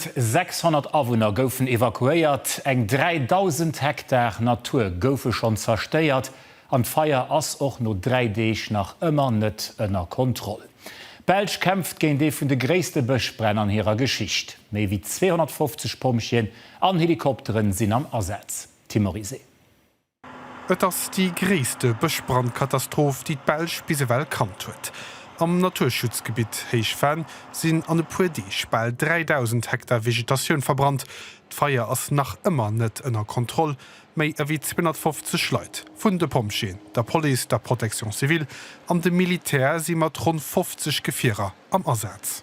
600 Awunner goufen evakuéiert, eng 3.000 Hektar Natur goufe schonn zerstéiert an d'Feier ass och no dräi Deeg nach ëmmer net ënner Kontroll. D'Belsch kämpft géint ee vun de gréisste Bëschbränn an hirer Geschicht. Méi wéi 250 Pompjeeën an Helikopteren sinn am Asaz. Tim Oryse. Et ass déi gréisste Bëschbrandkatastroph, déi d'Belsch bis ewell kannt huet. Am Naturschutzgebitt Héich Venn sinn an e puer Deeg bal 3.000 Hektar Vegetatioun verbrannt. D'Feier ass nach ëmmer net ënner Kontroll. Méi ewéi 250 Leit, vun de Pompjeeën, der Police, der Protection civile an dem Militär, si mat ronn 50 Gefierer am Asaz.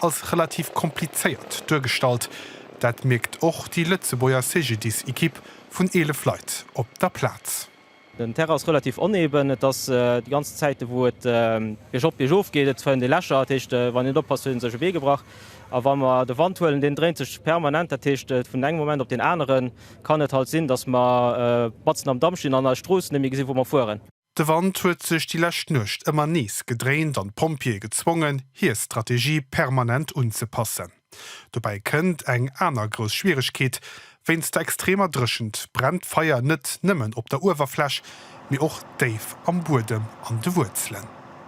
als relativ komplizéiert duergestallt. Dat mierkt och déi Lëtzebuerger CGDIS-Ekipp vun 11 Leit op der Plaz. Den Terrain ass relativ oneben, et ass déi ganz Zäite wou et biergop biergof geet. Et fënnt ee Lächer, dat heescht wann een net oppasst huet ee sech e Bee gebrach. A wa mer de Wand huelen, deen dréint sech permanent, dat heescht vun engem Moment op deen anere kann et halt sinn, datt mer batzen am Damm stinn an eis Strooss net méi gesi wou mer fueren. De Wand huet sech déi lescht Nuecht ëmmer nees gedréint an d'Pompjeeë gezwongen, hir Strategie permanent unzepassen. Dobäi kënnt eng aner grouss Schwieregkeet, Wéinst der extremer Dréchent brennt d'Feier net nëmmen op der Uewerfläch, mee och déif am Buedem, an de Wuerzelen.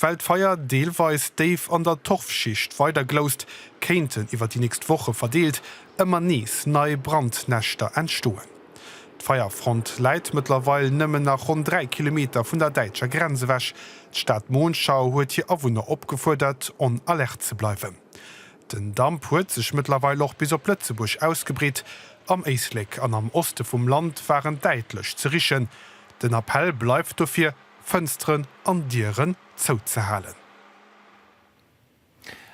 Well d'Feier deelweis déif an der Torfschicht weider gloust, kéinten iwwer déi nächst Woche verdeelt ëmmer nees nei Brandnäschter entstoen. D'Feierfront läit mëttlerweil nëmmen nach ronn 3 Kilometer vun der däitscher Grenz ewech. D'Stad Monschau huet hir Awunner opgefuerdert, on Alerte ze bleiwen. Den Damp huet sech mëttlerweil och bis op Lëtzebuerg ausgebreet. Am Éislek an am Oste vum Land waren däitlech ze richen. Den Appell bleift dofir, Fënsteren an Dieren zouzehalen.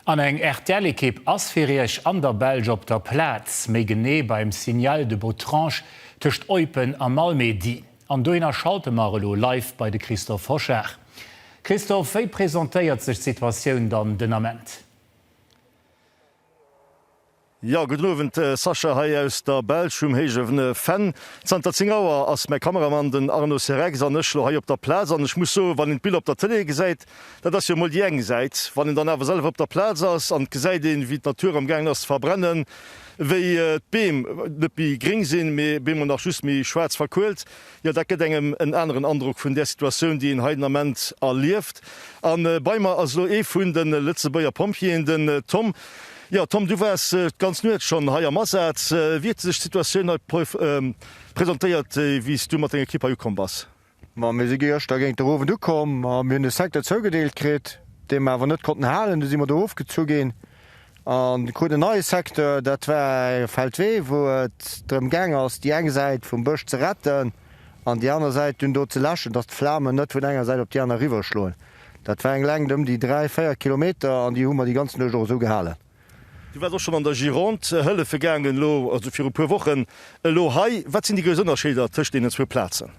An eng RTL-Ekipp ass fir Iech an der Belsch op der Plaz, méi genee beim Signal de Botrange tëscht Eupen a Malmedy. An dohinner schalte mer elo live bei de Christophe Hochard. Christophe, wéi presentéiert sech d'Situatioun dann den Ament? Jo, gudden Owend, Sascha hei aus der Belsch um héijewene Fenn. Zanter 10 Auer ass mäi Kameramann, den Arnaud Cerex, an ech lo hei op der Plaz. An ech muss soen, wann een d'Biller op der Tëlee gesäit, dat ass jo emol déi eng Säit, wann een dann awer selwer op der Plaz ass an et gesäit een, wéi d'Natur am gaangen ass ze verbrennen, wéi d'Beem net méi gréng sinn, mee bemol nach just méi schwaarz verkuelt, Jo, dat gëtt engem en aneren Androck vun där Situatioun, déi een hei den Ament erlieft. A bei mer ass elo ee vun de Lëtzebuerger Pompjeeën, den Tom. Jo, Tom, du waars d'ganz Nuecht schonn hei am Asaz. Wéi huet sech d'Situatioun hei presentéiert, wéi s du mat denger Ekipp hei ukomm bass? Ma mir si gëschter géint de Owend ukomm a mir hunn e Secteur zougedeelt kritt, dee mer awer net konnten halen. Du si mer do ofgezu ginn. En krut en neie Secteur, dat war e Feldwee, wou et drëm gaang ass, déi eng Säit vum Bësch ze retten an déi aner Säit dunn do ze läschen, dass d'Flamen net vun enger Säit op déi aner eriwwerschloen. Dat war eng Längt ëm déi dräi, véier Kilometer an déi hu mer déi ganz Nuecht och esou gehalen. Du waars och schonn an der Gironde hëllefe gaangen, elo, also viru puer Wochen. Elo hei, wat sinn déi grouss Ënnerscheeder tëscht deenen zwou Plazen?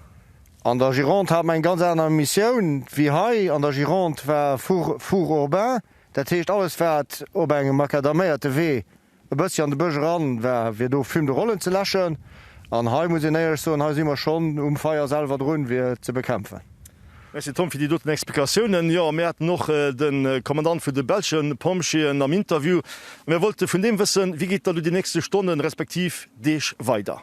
An der Gironde hat mer eng ganz aner Missioun wéi hei. An der Gironde war Four, Four urbain, Dat heescht, alles wat op engem macadaméierte Wee e bëssi an de Bësch eran war, wier do Fume de Rollen ze läschen. An hei muss een éierlech soen, hei si mer schonn um Feier selwer drun, fir et ze bekämpfen. Merci Tom fir déi doten Explikatiounen. Jo, mir haten och de Kommandant vun de belsche Pompjeeën am Interview a mir wollte vun deem wëssen, wéi geet dann do déi nächste Stonnen, respektiv Deeg weider?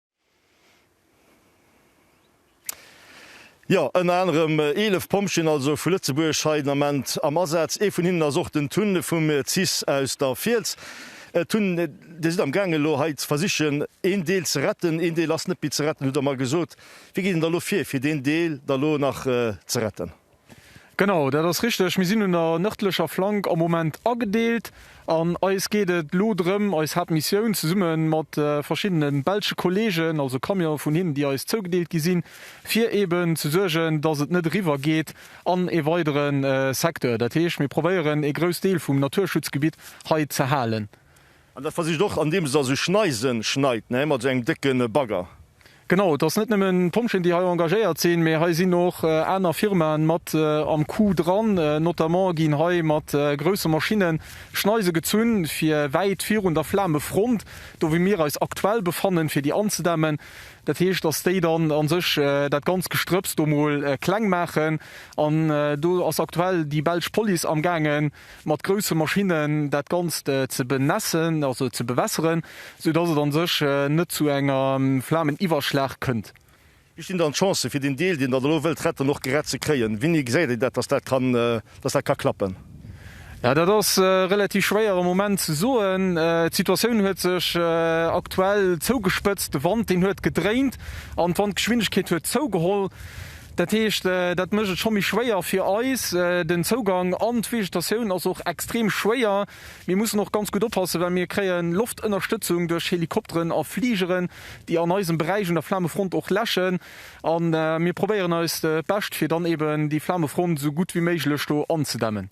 Jo, ënner anerem 11 Pompjeeën also vu Lëtzebuerg hei den Ament am Asaz. Ee vun hinnen ass och den Tun vum cis aus der Fiels. Tun, Dir sidd amgaangen elo hei ze versichen een Deel ze retten, een Deel ass net méi ze retten, hutt Der mer gesot. Wéi geet een da elo vir, fir deen Deel da elo nach ze retten? Genau, dat ass richteg. Mir sinn un der nërdlecher Flank am Moment agedeelt an eis geet et elo drëm, eis Haaptmissioun zesumme mat verschiddene belsche Kolleegen, also Camionen vun hinnen, déi eis zougedeelt gi sinn, fir eeben ze suergen, dass et net eriwwer geet an e weidere Secteur. Dat heescht, mir probéieren, e grouss Deel vum Naturschutzgebitt hei ze halen. An dat versicht och andeems se also Schneisen schneit, ne, mat esou engem décke Bagger. Genau, et ass net nëmmen d'Pompjeeën déi hei engagéiert sinn, mee hei sinn och aner Firmaen mat am Coup dran. Notamment ginn hei mat grousse Maschinnen Schneise gezunn fir wäit virun der Flamefront, do wou mir eis aktuell befannen, fir déi anzedämmen. Dat heescht, dass déi dann a sech dat ganz Gestrëpps do mol kleng maachen. An do ass aktuell déi belsch Police am gaangen, mat grousse Maschinnen dat Ganzt ze benässen, also ze bewässeren, sou dass et a sech net zu engem Flameniwwerschlag kënnt. Wéi stinn dann d'Chancen, fir deen Deel, deen Der elo wëllt retten, och gerett ze kréien? Wéini gesäit Dir dat, dass dat kann, dass dat ka klappen? Jo, dat ass relativ schwéier am Moment ze soen. D'Situatioun huet sech aktuell zougespëtzt, de Wand, deen huet gedréint an d'Wandgeschwindegkeet huet zougeholl. Dat heescht, dat mécht et scho méi schwéier fir eis, den Zougang. An d'Vegetatioun ass och extrem schwéier. Mir mussen och ganz gutt oppassen, well mir kréie Loftënnerstëtzung duerch Helikopteren a Fligeren, déi an eisem Beräich un der Flamefront och läschen. A mir probéieren eist Bescht, fir dann eeben déi Flamefront esou gutt wéi méiglech do anzedämmen.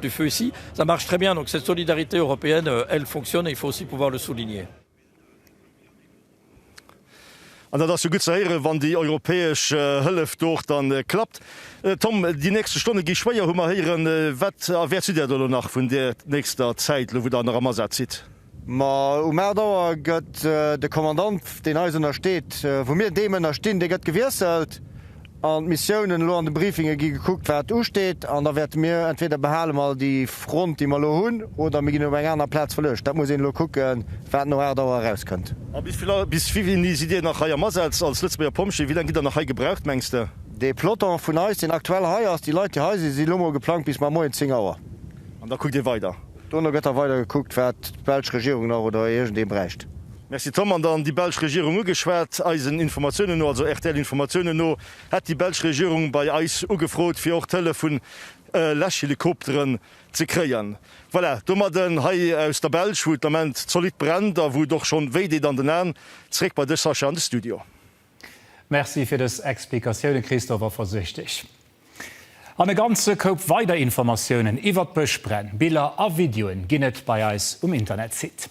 du feu ici, ça marche très bien, donc cette solidarité européenne, elle fonctionne et il faut aussi pouvoir le souligner. An dat ass jo gutt ze héieren, wann déi europäesch Hëllef do och da klappt. Tom, déi nächste Stonne gi schwéier, hu mer héieren. Wat erwäerts du där do elo nach vun där nächster Zäit elo, wou der nach am Asaz sidd? Ma um 8 Auer gëtt de Kommandant, deen eis ënnersteet, wou mir deem ënnerstinn, dee gëtt gewiesselt an d'Missiounen. Elo an de Briefinge gi gekuckt, wat usteet an da wäerte mir entweder behale mer déi Front, déi mer elo hunn, oder mir ginn op eng aner Plaz verluecht. Dat muss een elo kucken, wat no 8 Auer erauskënnt. A bis wéi vill sidd Dir nach hei am Asaz als Lëtzebuerger Pompjeeë? Wéi laang gitt Der nach hei gebraucht, mengs de? Dee Peloton vun eis, deen aktuell hei ass, déi Leit, déi hei sinn, si elo mol geplangt bis mamoien 10 Auer. An da kuckt Dir weider? Dono gëtt da weider gekuckt, wat d'belsch Regierung nach oder iergendee bräicht. Merci Tom. An dann déi belsch Regierung ugeschwat. Eisen Informatiounen no, also RTL-Informatiounen no, hätt déi belsch Regierung bei eis ugefrot, fir och d'Hëllef vun Läschhelikopteren ze kréien. Voilà, domadden hei aus der Belsch, wou et den Ament zolidd brennt a wou et och schonn wéi deet an den Aen. Zréck bei dech, Sascha, an de Studio. Merci fir dës Explikatiounen, Christophe, a versich dech an e ganze Koup weider Informatiounen iwwert d'Bëschbränn. Biller a Videoen ginn et bei eis um Internetsite.